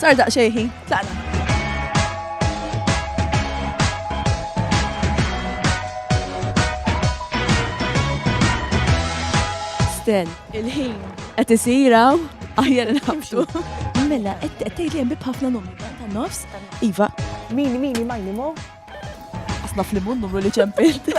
Sar daqsxejn ħin, tlaqna. Stel. Il-ħin. Qed isiraw aħjar nħabtu. Mela, qed tgħid li hemm bib ħafna numri ta' nofs. Iva. Min min imajni mo? Asna fl-immun numru li ċempilt.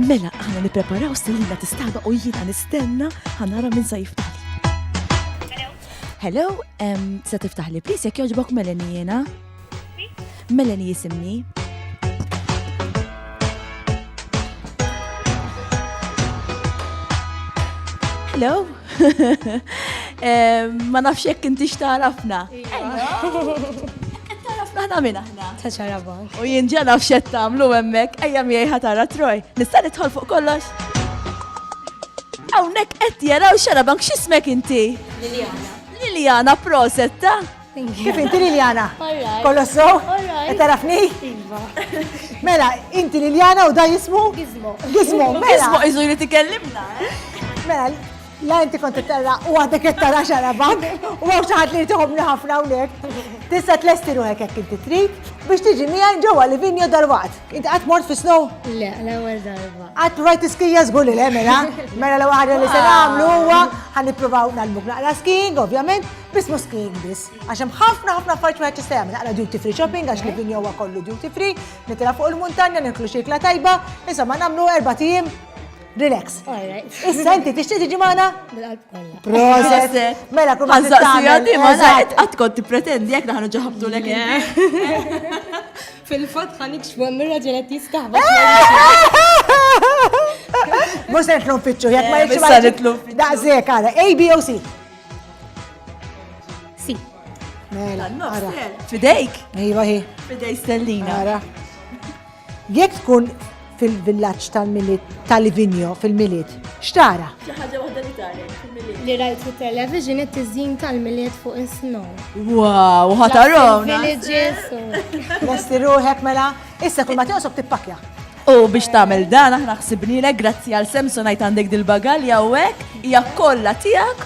Mela, aħna nippreparaw stilina tistaba u jiena nistenna ħanara minn sa jiftaħ. Hello, se tiftaħ li please jekk jogħġbok Melanie jiena. Melanie jisimni. Hello. Ma nafx jekk inti x'tarafna. Tarafna ħna minna. Ta' ċara bank. U jien ġa naf x'qed tagħmlu hemmhekk, ejja miegħi ħatara Troj. Nista' nidħol fuq kollox? Hawnhekk qed jaraw xara bank x'ismek inti? Liljana. Liljana proset ta' Kif inti Liljana? Kollox so? Qed tarafni? Iva. Mela, inti Liljana u da jismu? Gizmo. Gizmo, mela. Gizmo iżu jrid ikellimna. Mela, La inti kont terra u għadek qed tara xarabank u għaw xi ħadd li jtihomni ħafna hawnhekk. Tista' tlesti ruħek hekk inti trid biex tiġi miegħi ġewwa li vinjo darwat. Inti qatt mort fi snow? Le, l-ewwel darba. Qatt rajt iskija żgur li le mela. Mela l waħda li se nagħmlu huwa ħan nippruvaw nagħlmuk naqra skiing, ovvjament, biss mhux skiing biss. Għax hemm ħafna ħafna affarijiet wieħed jista' jagħmel naqra duty free shopping għax li vinjo huwa kollu duty free, nitila fuq il-muntanja, niklu xikla tajba, insomma nagħmlu erba' tim Relax. Issa inti tixtieq tiġi magħna? Proset. Mela kull ma tagħmel. Di ma żgħid qatt kont tippretendi jekk naħnu ġaħabtu lek. Fil-fatt ħanik xwammira ġelet jistaħba. Mhux se nitlu nfittxu jekk ma jitlu. Issa nitlu. Daqshekk għala A, B o C. C. Mela, ara. Fidejk. Ejwa hi. Fidej stellina. Ara. Jekk tkun fil-villaġġ tal-Milied ta' Livigno fil-Milied, x'tara? Xi ħaġa waħda li taret fil-Milied? Li rajt fit-television it-tiżjin tal-Milied fuq is-snow. Wow, ħatarhom! Villages u. Lesti ruħek mela, issa kull ma tinqosok tippakja. U biex tagħmel dan aħna ħsibnielek grazzi għal Samsonite għandek dil-bagalja u hekk hija kollha tiegħek